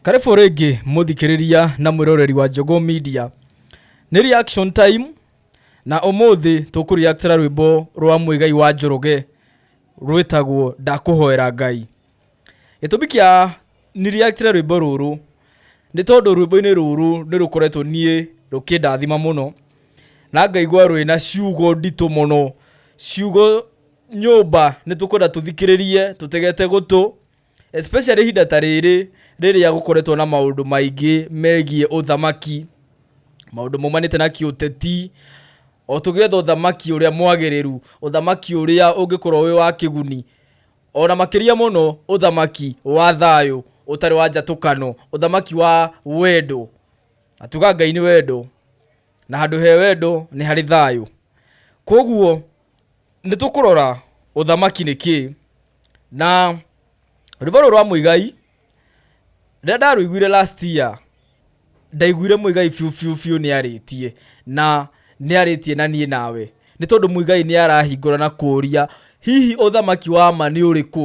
Karĩbũ rĩngĩ mũthikĩrĩria na mwĩroreri wa Njogũ Media. Nĩ reaction time na ũmũthĩ tũkũreactĩra rwĩmbo rwa Mũigai wa Njoroge rwĩtagwo Ndakũhoera Ngai. Gĩtũmi kĩa ni reactĩre rwĩmbo rũrũ nĩ tondũ rwĩmbo-inĩ rũrũ nĩ rũkoretwo niĩ rũkĩndathima mũno na ngaigua rwĩna ciugo nditũ mũno, ciugo nyũmba nĩ tũkwenda tũthikĩrĩrie tũtegete gũtũ especially ihinda ta rĩrĩ rĩrĩa gũkoretwo na maũndũ maingĩ megiĩ ũthamaki maũndũ maumanĩte na kĩũteti o tũgetha ũthamaki ũrĩa mwagĩrĩru ũthamaki ũrĩa ũngĩkorwo wĩ wa kĩguni ona makĩria mũno ũthamaki wa thayũ ũtarĩ wa njatũkano ũthamaki wa wendo atuga ngai nĩ wendo na handũ he wendo nĩ harĩ thayũ koguo nĩ tũkũrora ũthamaki nĩ kĩĩ na rwĩmbo rũrũ rwa mũigai rĩrĩa ndarũiguire last year ndaiguire mũigai biũ biũ biũ nĩ arĩtie na nĩ arĩtie na niĩ nawe nĩ tondũ mũigai nĩ arahingũra na kũria hihi ũthamaki wa ma nĩ ũrĩkũ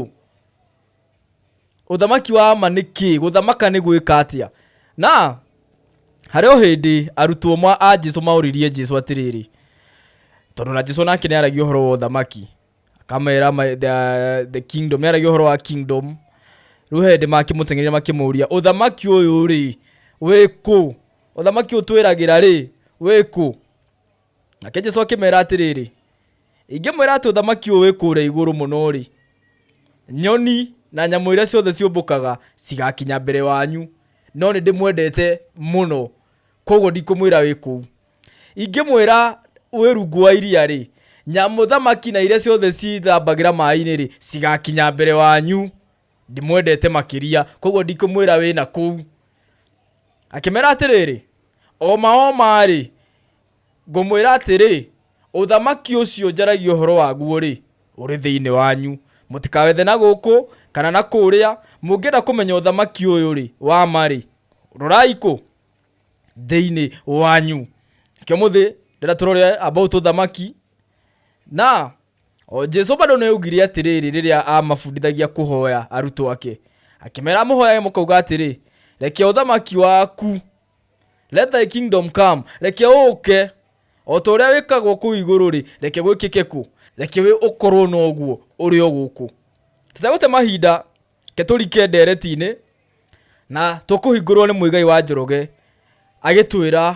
Ũthamaki wa ma nĩ kĩĩ? Gũthamaka nĩ gwĩka atĩa? Na harĩ o hĩndĩ arutwo ma a Jesu maũririe Jesu atĩrĩrĩ, tondũ na Jesu nake nĩ aragia ũhoro wa ũthamaki, akamera ma- the, the kingdom, nĩ aragia ũhoro wa kingdom. Rĩu he hĩndĩ makĩmũteng'eria makĩmũria, ũthamaki ũyũ rĩ, wĩ kũ? Ũthamaki ũyũ twĩragĩra rĩ, wĩ kũ? Nake Jesu akĩmera atĩrĩrĩ, ingĩmwĩra atĩ ũthamaki ũyũ wĩ kũrĩa igũrũ mũno-rĩ, nyoni na nyamũ iria ciothe ciũmbũkaga cigakinya mbere wanyu, no nĩ ndĩmwendete mũno, koguo ndikũmwĩra wĩ kũu. Ingĩmwĩra wĩ rungu wa iria-rĩ, nyamũ thamaki na iria ciothe ciĩthambagĩra maĩ-inĩ-rĩ, cigakinya mbere wanyu. ndimwendete makĩria koguo ndikũmwĩra wĩna kũu akĩmera atĩrĩrĩ oma oma-rĩ ngũmwĩra atĩrĩ ũthamaki ũcio njaragia ũhoro waguo-rĩ ũrĩ thĩinĩ wanyu mũtikawethe na gũkũ kana na kũrĩa mũngĩenda kũmenya ũthamaki ũyũ-rĩ wa ma-rĩ rorai kũ thĩinĩ wanyu kĩo mũthĩ ndĩrenda tũrore about ũthamaki na O Jesu bado nĩ augire atĩrĩrĩ rĩrĩa aamabundithagia kũhoya arutwo ake, akĩmera mũhoyage mũkauga atĩrĩ, reke ũthamaki waku, let thy kingdom come, reke ũke, o ta ũrĩa wĩkagwo kũu igũrũ-rĩ, reke gwĩkĩke kũ? Reke wĩ ũkorwo noguo ũrĩ o gũkũ. Tũtegũte mahinda, reke tũrike ndeereti-inĩ na tũkũhingũrwo nĩ Muigai wa Njoroge agĩtwĩra.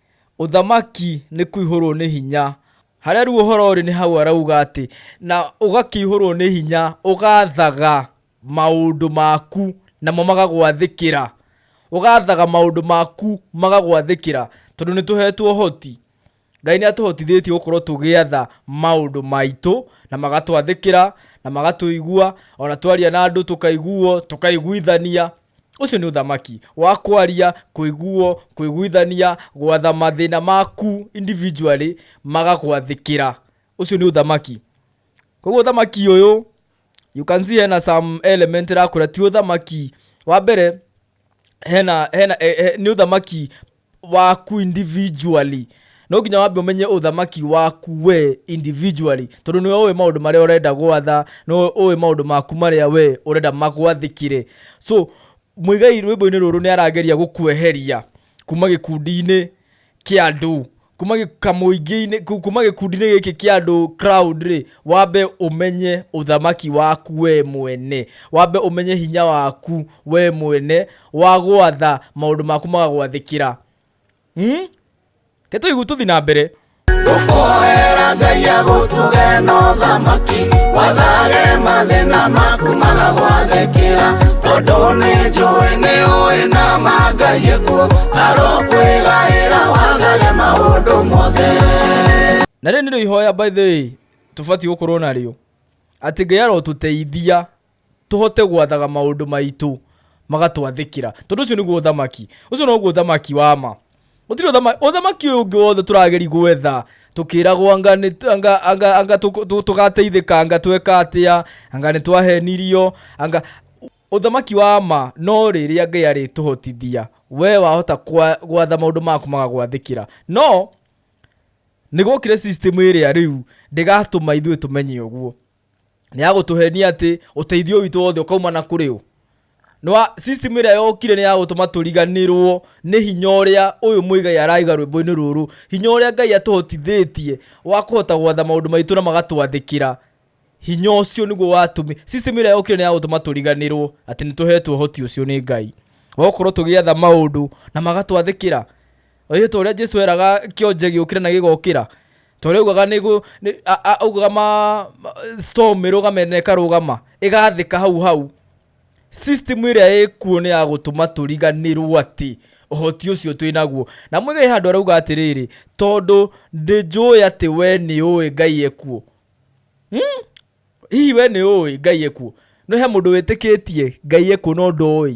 Ũthamaki nĩ kũihũrwo nĩ hinya. Harĩa rĩu ũhoro ũrĩ nĩ hau arauga atĩ, na ũgakĩihũrwo nĩ hinya, ũgaathaga maũndũ maku, namo magagwathĩkĩra. Ũgaathaga maũndũ maku, magagwathĩkĩra. Tondũ nĩ tũheetwo ũhoti. Ngai nĩ atũhotithĩtie gũkorwo tũgĩatha maũndũ maitũ, na magatwathĩkĩra, na magatũigua, o na twaria na andũ tũkaiguo, tũkaiguithania. Ũcio nĩ ũthamaki wa kwaria, kũiguo, kwĩguithania, gwatha mathĩna maku individually magagwathĩkĩra. Ũcio nĩ ũthamaki. Koguo ũthamaki ũyũ, you can see hena some element ĩrakwĩra ti ũthamaki. Wa mbere, hena, hena, nĩ ũthamaki waku individually no nginya wambe ũmenye ũthamaki waku we individually tondũ nĩwe ũĩ maũndũ marĩa ũrenda gwatha nĩwe ũĩ maũndũ maku marĩa we ũrenda magwathĩkire so mũigai rwĩmbo-inĩ rũrũ nĩ arageria gũkweheria kuma gĩkundi-inĩ kĩa andũ kuma gĩ- kamũingĩ-inĩ ku- kuma gĩkundi-inĩ gĩkĩ kĩa andũ crowd rĩ wambe ũmenye ũthamaki waku we mwene wambe ũmenye hinya waku we mwene wagwatha maundu maku magagwathikira hmm? ketũigu tũthi na mbere Tũkoera Ngai agũtuge na ũthamaki Wathage mathĩna maku magagwathĩkĩra Tondũ nĩ njũĩ nĩ ũĩ na mangai ekuo Arokwĩgaĩra wathage maũndũ mothe na rĩrĩ nĩrĩo ihoya by the way tũbatiĩ gũkorwo narĩo atĩ ngai arotuteithia tũhote gwathaga maũndũ maitũ magatwathĩkĩra tondũ ũcio nĩguo ũthamaki ũcio noguo ũthamaki wa ma gũtirĩ ũthama- ũthamaki ũyũ ũngĩ wothe tũrageri gwetha tũkĩragwo anga nĩ- anga- anga- anga tũk- tũ- tũgateithĩka anga tweka atĩa anga nĩ twahenirio anga ũthamaki wa ma no rĩrĩa ngai arĩtũhotithia we wahota kwa- gwatha maũndũ maku magagwathĩkĩra no nĩ gwokire system ĩrĩa rĩu ndĩgatũma ithuĩ tũmenye ũguo nĩ ya gũtũhenia atĩ ũteithio witũ wothe ũkauma na kũrĩ ũ nwa system ĩrĩa yokire nĩ ya gũtũma tũriganĩrwo nĩ hinya ũrĩa ũyũ mũigai araiga rwĩmbo-inĩ rũrũ hinya ũrĩa ngai atũhotithĩtie wa kũhota gwatha maũndũ maitũ na magatwathĩkĩra hinya ũcio nĩguo watũmi system ĩrĩa yokire nĩ ya gũtũma tũriganĩrwo atĩ nĩ tũhetwo ũhoti ũcio nĩ ngai wakorwo tũgĩatha maũndũ na magatwathĩkĩra Oĩ to ũrĩa Jesu eraga kĩonje gĩũkĩre na gĩgokĩra to rĩu augaga nĩ gũ- nĩ- a- a- augaga ma ma- storm ĩrũgame na ĩkarũgama ĩgathĩka hau hau system ĩrĩa ĩkuo nĩ ya gũtũma tũriganĩrwo atĩ ũhoti ũcio twĩ naguo na mwĩge he handũ arauga atĩrĩrĩ tondũ ndĩ njũĩ atĩ we nĩ ũĩ ngai ekuo hmm? hihi we nĩ ũĩ ngai ekuo no he mũndũ wĩtĩkĩtie ngai ekuo no ndoĩ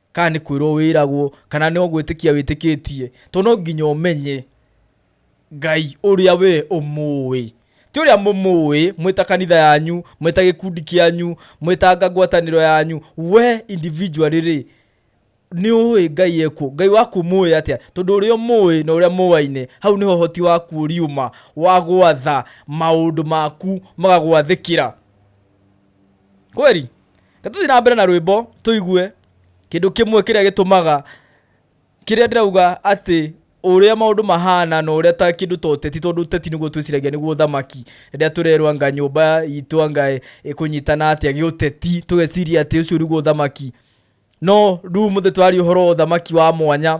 kana nĩ kwĩrwo wĩragwo, kana no gwĩtĩkia wĩtĩkĩtie, tondũ no nginya ũmenye Ngai ũrĩa we ũmũĩ. Ti ũrĩa mũmũĩ mwĩ ta kanitha yanyu, mwĩ ta gĩkundi kĩanyu, mwĩ ta anga ngwatanĩro yanyu, we individually rĩ, nĩ ũĩ Ngai e kũ? Ngai waku ũmũĩ atĩa? Tondũ ũrĩa ũmũĩ na ũrĩa mũaine, hau nĩho ũhoti waku ũriuma wa gwatha maũndũ maku magagwathĩkĩra. kweli gatũthiĩ na mbere na rwĩmbo tũigue kĩndũ kĩmwe kĩrĩa gĩtũmaga kĩrĩa ndĩrauga atĩ ũrĩa maũndũ mahana na ũrĩa ta kĩndũ ta ũteti tondũ ũteti nĩguo twĩciragia nĩguo ũthamaki rĩrĩa tũrerwo anga nyũmba itũ anga ĩ- ĩkũnyitana atĩa gĩũteti tũgeciria atĩ ũcio nĩguo ũthamaki no rĩu mũthĩ tũraria ũhoro wa ũthamaki wa mwanya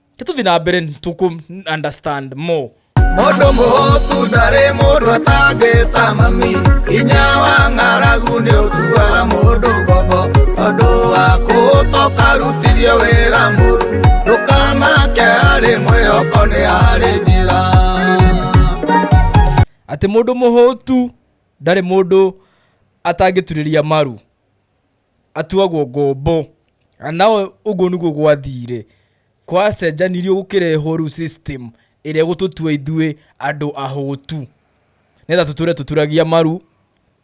tũthiĩ na mbere tũkũ understand more mũndũ mũhũtu ndarĩ mũndũ atangĩta mami hinya wa ng'aragu nĩ ũtuaga mũndũ ngombo tondũ wa kũhũta ũkarutithio wĩra mũru ndũkamake harĩ mwĩhoko nĩ harĩ njĩra atĩ mũndũ mũhũtu ndarĩ mũndũ atangĩturĩria maru atuagwo ngombo. Na nawe ũguo nĩguo gwathire. Gwacenjanirio gũkĩrehwo rĩu system ĩrĩa ĩgũtũtua ithuĩ andũ ahũtu. Nĩgetha tũtũre tũturagia maru,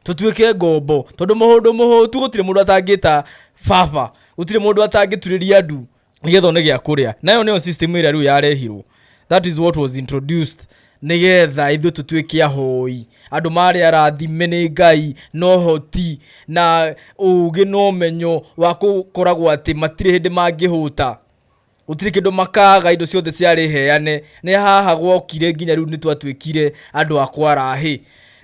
tũtuĩke ngombo. Tondũ mũndũ mũhũtu gũtirĩ mũndũ atangĩta baba, gũtirĩ mũndũ atangĩturĩria ndu. nĩgetha one gĩa kũrĩa nayo nĩyo system ĩrĩa rĩu yarehirwo that is what was introduced nĩgetha ithuĩ tũtuĩke ahoi andũ marĩ arathime nĩ ngai no hoti na ũgĩ na ũmenyo wa gũkoragwo atĩ matirĩ hĩndĩ mangĩhũta gũtirĩ kĩndũ makaga indo ciothe ciarĩ heane nĩ haha gwokire nginya rĩu nĩ twatuĩkire andũ a kwarahĩ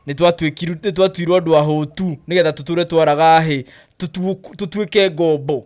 nĩ twatuĩkiru- nĩ twatuirwo andũ ahũtu nĩgetha tũtũre twaraga hĩ tũtuĩke ngombo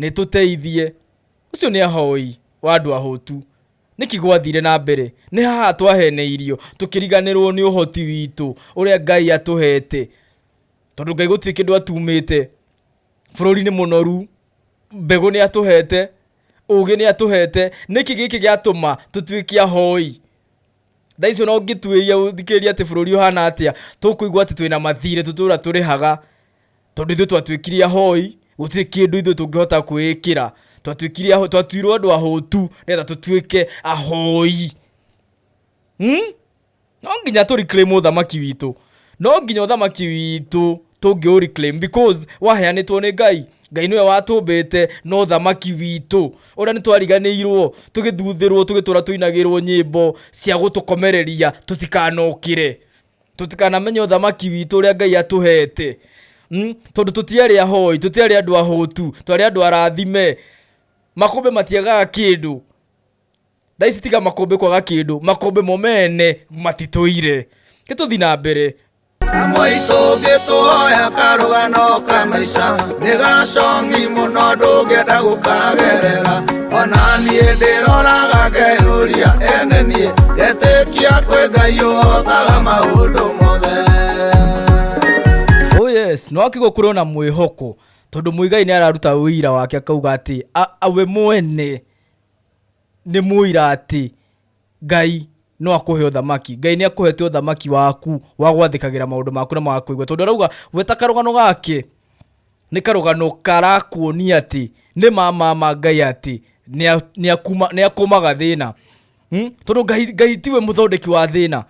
Nĩ tũteithie. Ũcio nĩ ahoi wa andũ ahũtu. Nĩkĩ gwathire na mbere? Nĩ haha twaheneirio, tũkĩriganĩrũo nĩ ũhoti witũ ũrĩa Ngai atũheete. Tondũ Ngai gũtirĩ kĩndũ atuumĩte. Bũrũri nĩ mũnoru, mbegũ nĩ atũheete, ũũgĩ nĩ atũheete. Nĩkĩ gĩkĩ gĩatũma tũtuĩke ahoi? thaa icio no ngĩtuĩria ũthikĩrĩria atĩ bũrũri ũhana atĩa tũkũigua atĩ twĩna mathirĩ tũtũra tũrĩhaga tondũ ithuĩ twatuĩkire ahoi gũtirĩ kĩndũ ithuĩ tũngĩhota kwĩĩkĩra twatuĩkire aho- twatuirwo andũ ahũtu nĩgetha tũtuĩke ahoi hmm? no nginya tũrikire mũthamaki witũ no nginya ũthamaki witũ tũngĩ ũ reclaim because waheanĩtwo nĩ ngai ngai nĩwe watũmbĩte no thamaki witũ ũrĩa nĩ twariganĩirwo tũgĩthuthĩrwo tũgĩtũra tũinagĩrwo nyĩmbo cia gũtũkomereria tũtikanokĩre tũtikanamenye ũthamaki witũ ũrĩa ngai atũhete mm? tondũ tũtiarĩ ahoi tũtiarĩ andũ ahũtu twarĩ andũ arathime makũmbĩ matiagaga kĩndũ thaa ici tiga makũmbĩ kwaga kĩndũ makũmbĩ mo mene matitũire gĩtũthi na mbere Kamũitũ ngĩtũhoya karũgano ka maica nĩ gacongi mũno ndũngĩenda gũkagerera ona niĩ ndĩroraga ngeyũria ene niĩ ngetĩkia kwĩ ngai ũhotaga maũndũ mothe oh yes no akigwo kũrĩ ona mwĩhoko tondũ mũigai nĩ araruta ũira wake akauga atĩ a- a- we mwene nĩ mũira atĩ Ngai no akũhe ũthamaki. Ngai nĩ akũhete ũthamaki waku wa gwathĩkagĩra maũndũ maku na magakũigua. Tondũ arauga gweta karũgano gake nĩ karũgano karakuonia atĩ nĩ ma ma ma Ngai atĩ nĩ akũmaga thĩna. Hmm? Tondũ Ngai, Ngai tiwe mũthondeki wa thĩna.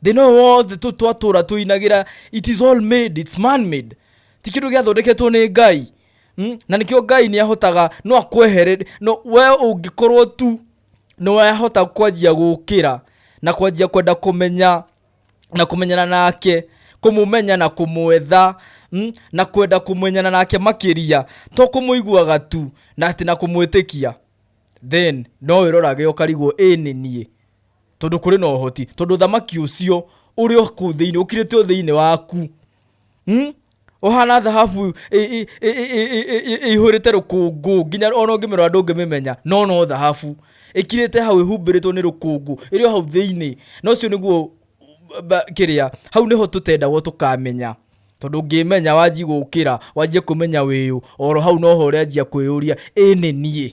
Thĩna ũyũ wothe twatũra tũinagĩra it is all made, it's man made. Ti kĩndũ gĩathondeketwo nĩ Ngai. Mm, na nĩkĩo ngai nĩ ahotaga no akwehere no we ũngĩkorwo tu nĩ wahota kwanjia gũkĩra na kwanjia kwenda kũmenya na kũmenyana nake kũmũmenya na kũmwetha mm, na kwenda kũmenyana nake makĩria to kũmũiguaga tu na atĩ na kũmwĩtĩkia then no wĩrorage ũkarigwo ĩ nĩ niĩ tondå kå rä na å hoti tondå thamaki å cio å rä o kå u thä inä å kirä te o thä inä waku Hmm? ũhana thahabu ĩihũrĩte rũkũngũ nginya ona ũngĩmĩrora andũ ũngĩmĩmenya no no thahabu ĩkirĩte hau ĩhumbĩrĩtwo nĩ rũkũngũ ĩrĩ o hau thĩinĩ na ũcio nĩguo kĩrĩa hau nĩho tũtendagwo tũkamenya tondũ ngĩmenya wanji gũkĩra wanjie kũmenya wĩyũ oro hau noho ũrĩanjia kwĩyũria ĩnĩ niĩ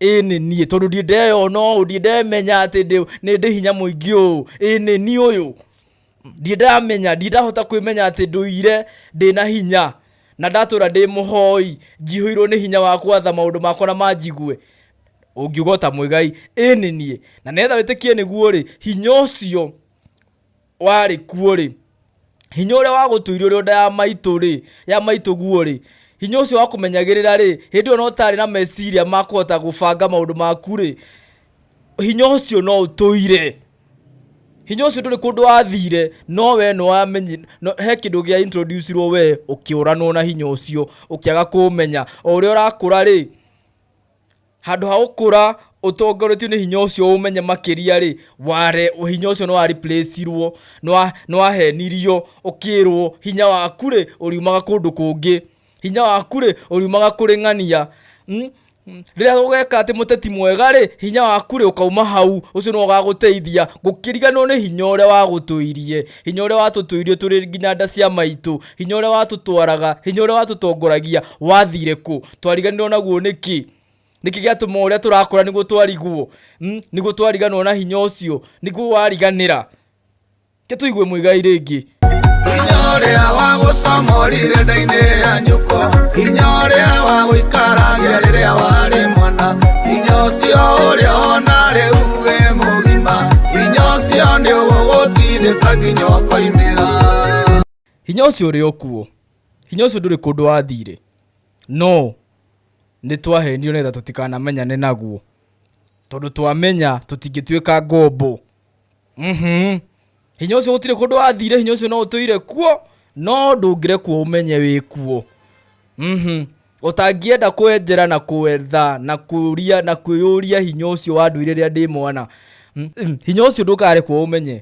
ĩĩ nĩ niĩ tondũ ndiĩ ndeyona ũũ ndiĩ ndemenya atĩ ndĩ- nĩ ndĩ hinya mũingĩ ũũ ĩĩ nĩ niĩ ũyũ ndiĩ ndamenya ndiĩ ndahota kwĩmenya atĩ ndũire ndĩ na hinya na ndatũra ndĩ mũhoi njihũirwo nĩ hinya wa kwatha maũndũ makwa na manjigue ũngiuga ũta mwĩgai ĩĩ nĩ niĩ na nĩgetha wĩtĩkie nĩguo rĩ hinya ũcio warĩ kuo-rĩ, hinya ũrĩa wagũtũire ũrĩ o nda ya maitũ-rĩ, ya maitũguo-rĩ, hinya ũcio wakũmenyagĩrĩra-rĩ, hĩndĩ ĩyo na ũtarĩ na meciria ma kũhota gũbanga maũndũ maku-rĩ, hinya ũcio no ũtũire. Hinya ũcio ndũrĩ kũndũ wathire, no wee nĩwamenyi, he kĩndũ gĩa introduce irwo wee, ũkĩũranwo na hinya ũcio, ũkĩaga kũũmenya. O ũrĩa ũrakũra-rĩ, Handũ ha gũkũra ũtongoretio nĩ hinya ũcio ũmenye makĩria rĩ, ware hinya ũcio nĩ wa replace-irwo, nĩ wa- nĩ wahenirio, ũkĩrwo hinya waku rĩ, ũriumaga kũndũ kũngĩ. Hinya waku rĩ, ũriumaga kũrĩ ng'ania. Hmm? Rĩrĩa ũgeka atĩ mũteti mwega rĩ, hinya waku rĩ, ũkauma hau, ũcio nĩwe ũgagũteithia, gũkĩriganwo nĩ hinya ũrĩa wagũtũirie, hinya ũrĩa watũtũirie tũrĩ nginya nda cia maitũ, hinya ũrĩa watũtwaraga, hinya ũrĩa watũtongoragia, wathire kũ? twariganirwo naguo nĩkĩ nĩkĩ gĩatũma ũrĩa tũrakũra nĩguo twariguo mm? nĩguo twariganwo na hinya ũcio nĩguo wariganĩra ke tũigue mũigai rĩngĩ hinya ũrĩa wa gũcamorire ndainĩ ya nyũkwa hinya ũrĩa wa gũikaragia rĩrĩa warĩ mwana hinya ũcio ũrĩa ona rĩu wĩ mũgima hinya ũcio nĩ ũgũgũtindĩka nginya ũkoimĩra hinya ũcio ũrĩ o kuo Hinya ũcio ndũrĩ kũndũ wathiire, no nĩ twahenirio nĩgetha tũtikanamenyane naguo. Tondũ twamenya tũtingĩtuĩka ngombo. Mhm. Hinya ũcio gũtirĩ kũndũ wathiire, hinya ũcio no ũtũire kuo, no ndũngĩrekwo ũmenye wĩ kuo. Mhm. Ũtangĩenda kwenjera na kwetha na kũria na kwĩyũria hinya ũcio wandũire rĩrĩa ndĩ mwana, hinya ũcio ndũkarekwo ũmenye.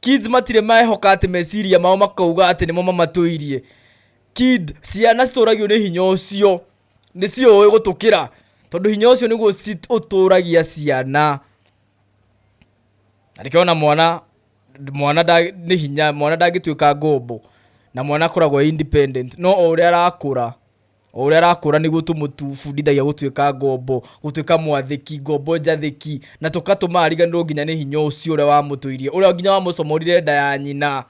Kids matirĩ maehoka atĩ meciria mao makauga atĩ nĩmo mamatũirie. Kid, ciana citũragio nĩ hinya ũcio, nĩ ciũĩ gũtũkĩra tondũ hinya ũcio nĩguo ũtũragia ciana. Na nĩkĩo ona mwana mwana nĩ hinya mwana ndangĩtuĩka ngombo na mwana akoragwo e independent no o ũrĩa arakũra. o ũrĩa arakũra nĩguo tũmũbundithagia gũtuĩka ngombo gũtuĩka mwathĩki ngombo njathĩki na tũkatũma ariganĩrwo nginya nĩ hinya ũcio ũrĩa wamũtũirie ũrĩa nginya wamũcomorire nda ya nyina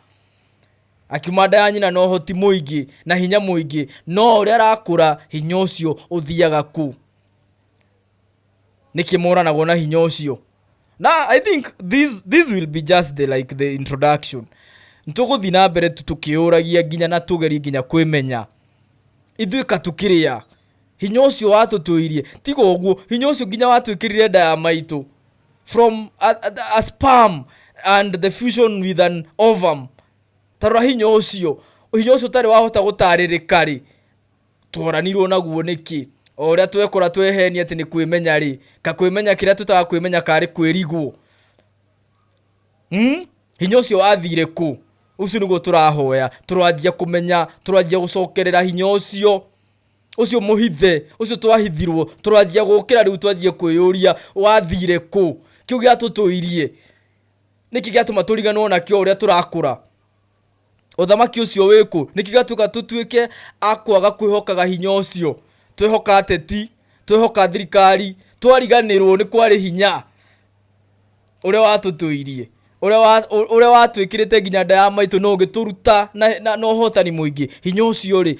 akiuma nda ya nyina na ũhoti mũingĩ na hinya mũingĩ no ũrĩa arakũra hinya ũcio ũthiaga kũ nĩkĩ moranagwo na hinya ũcio na i think this, this will be just the, like the introduction tũgũthiĩ na mbere tu tũkĩũragia nginya na tũgerie nginya kwĩmenya ithuĩ ka tũkĩrĩa hinya ũcio watũtũirie tiga ũguo hinya ũcio nginya watwĩkĩrire nda ya maitũ from a, a, a sperm and the fusion with an ovum tarora hinya ũcio hinya ũcio ũtarĩ wahota gũtarĩrĩka rĩ Tworanirwo naguo nĩkĩ? O ũrĩa twekora twehenia atĩ nĩ kwĩmenya-rĩ, ka kwĩmenya kĩrĩa twĩtaga kwĩmenya karĩ kwĩrigwo. Hmm? Hinya ũcio wathire kũ? Ũcio nĩguo tũrahoya. Tũranjia kũmenya, tũranjia gũcokerera hinya ũcio. Ũcio mũhithe, ũcio twahithirwo, tũranjia gũkĩra rĩu twanjie kwĩyũria, wathire kũ? Kĩu gĩatũtũirie, nĩkĩ gĩatũma tũriganĩrwo nakĩo o ũrĩa tũrakũra? Ũthamaki ũcio wĩ kũ? Nĩkĩ gatuĩka tũtuĩke a kwaga kwĩhokaga hinya ũcio? Twehoka ateti, twehoka thirikari, twariganĩrwo nĩ kwarĩ hinya ũrĩa watũtũirie, ũrĩa wa- ũ- ũrĩa watwĩkĩrĩte nginya nda ya maitũ na ũgĩtũruta na- na na ũhotani mũingĩ. Hinya ũcio rĩ,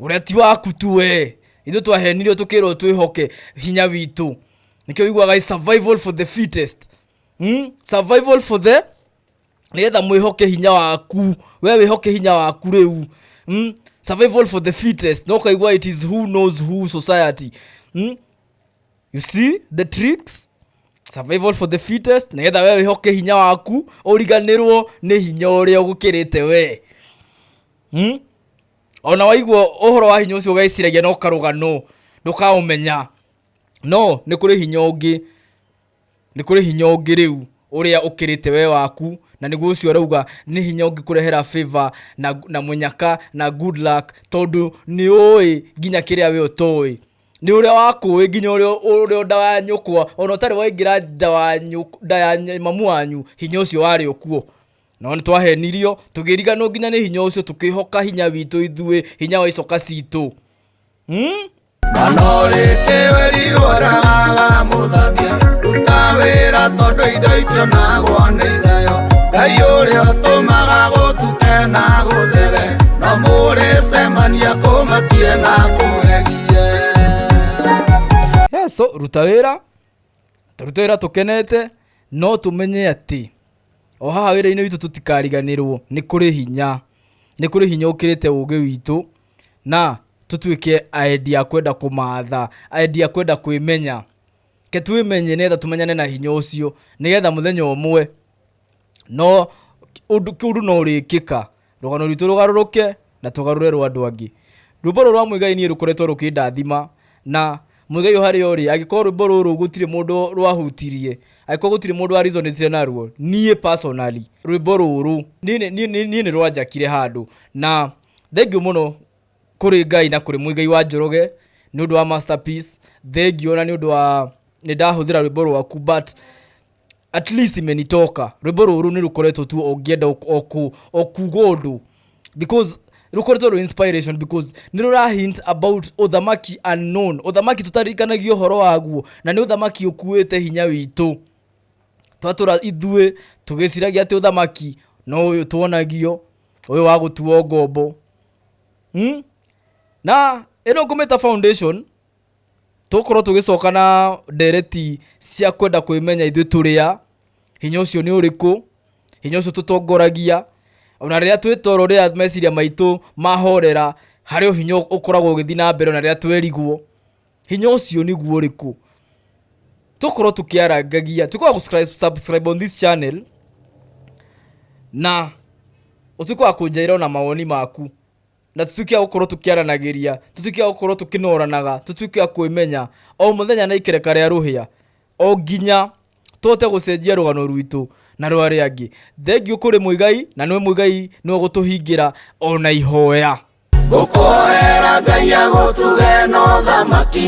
Ũrĩa ti waku tu we. Ithuĩ twahenirio tũkĩrwo twĩhoke hinya witũ. Nĩkĩo wiguaga i survival for the fittest. Hmm? Survival for the nĩgetha mwĩhoke hinya waku we wĩhoke hinya waku rĩu mm? survival for the fittest no kaigua it is who knows who society mm? you see the tricks survival for the fittest nĩgetha we wĩhoke hinya waku ũriganĩrwo nĩ hinya ũrĩa ũgũkĩrĩte we mm? ona waigua ũhoro wa hinya ũcio ũgeciragia no karũga no ndũkaũmenya no nĩ kũrĩ hinya ũngĩ nĩ kũrĩ hinya ũngĩ rĩu ũrĩa ũkĩrĩte we waku na nĩguo ũcio arauga nĩ hinya ũngĩ kũrehera favor na, na mũnyaka na good luck tondũ nĩ ũĩ nginya kĩrĩa we ũtoĩ nĩ ũrĩa wakũĩ nginya ũrĩa ũrĩa nda wa nyũkwa ona ũtarĩ waingĩra nja wa nyũk- nda ya nya- mamu wanyu hinya ũcio warĩ ũkuo No nĩ twahenirio, tũgĩriganwo nginya nĩ hinya ũcio, tũkĩhoka hinya witũ ithuĩ, hinya wa icoka citũ. Hmm? manorĩte werirworaga mũthambia ruta wĩra tondũ indo itionagwo nĩ ithayo ngai ũrĩa ũtũmaga gũtuke na gũthere no mũrĩcemania kũmakie na kũgegie Yes, so ruta wĩra tũruta wĩra tũkenete no tũmenye atĩ O haha wĩra-inĩ witũ tũtikariganĩrwo nĩ kũrĩ hinya, nĩ kũrĩ hinya ũkĩrĩte ũgĩ witũ na tũtuĩke aendi a kwenda kũmatha, aendi a kwenda kwĩmenya. Ke twĩmenye nĩgetha tũmenyane na hinya ũcio, nĩgetha mũthenya ũmwe no ũndũ kĩũndũ no ũrĩkĩka. Rũgano rwitũ rũgarũrũke na tũgarũre rwa andũ angĩ. Rwĩmbo rũrũ rwa Muigai niĩ rũkoretwo rũkĩndathima na Muigai o harĩa ũrĩ angĩkorwo rwĩmbo rũrũ gũtirĩ mũndũ rwahutirie, angĩkorwo gũtirĩ mũndũ wa reasonĩtire naruo, niĩ personally rwĩmbo rũrũ niĩ nĩ rwanjakire handũ. Na thengiũ mũno kũrĩ Ngai na kũrĩ Muigai wa Njoroge nĩ ũndũ wa masterpiece, thengiũ ona nĩ ũndũ wa nĩ ndahũthĩra rwĩmbo rwaku but... at least imenitoka rwimbo ruru ni rukoretwo tu ongienda okuga undu because rukoretwo ru inspiration because ni rura hint about uthamaki unknown uthamaki tutarikanagia uhoro waguo na ni uthamaki ukuite hinya witu twatura ithuĩ tũgĩciragia atĩ ũthamaki no ũyũ tuonagio ũyũ wa gũtuo ngombo hmm? na ĩno ngũmĩta foundation tũkorwo tũgĩcoka na ndereti cia kwenda kwĩmenya ithuĩ tũrĩa hinya ũcio nĩ ũrĩkũ hinya ũcio tũtongoragia ona rĩrĩa twĩtoro rĩrĩa meciria maitũ mahorera harĩ hinya ũkoragwo ũgĩthiĩ na mbere ona rĩrĩa twerigwo hinya ũcio nĩguo ũrĩkũ tũkorwo tũkĩarangagia tuĩke wa gũ- subscribe on this channel na ũtuĩke wa kũnjaĩra ona mawoni maku na tutuike gukorwo tukiaranagiria tutuike gukorwo tukinoranaga tutuike kwimenya o muthenya na ikereka ria ruhia o nginya tuhote gucenjia rugano rwitu na rwa ria angi thengiu kuri muigai na niwe muigai niwe gutuhingira ona ihoya ngũkũhoera ngai agũtuge no thamaki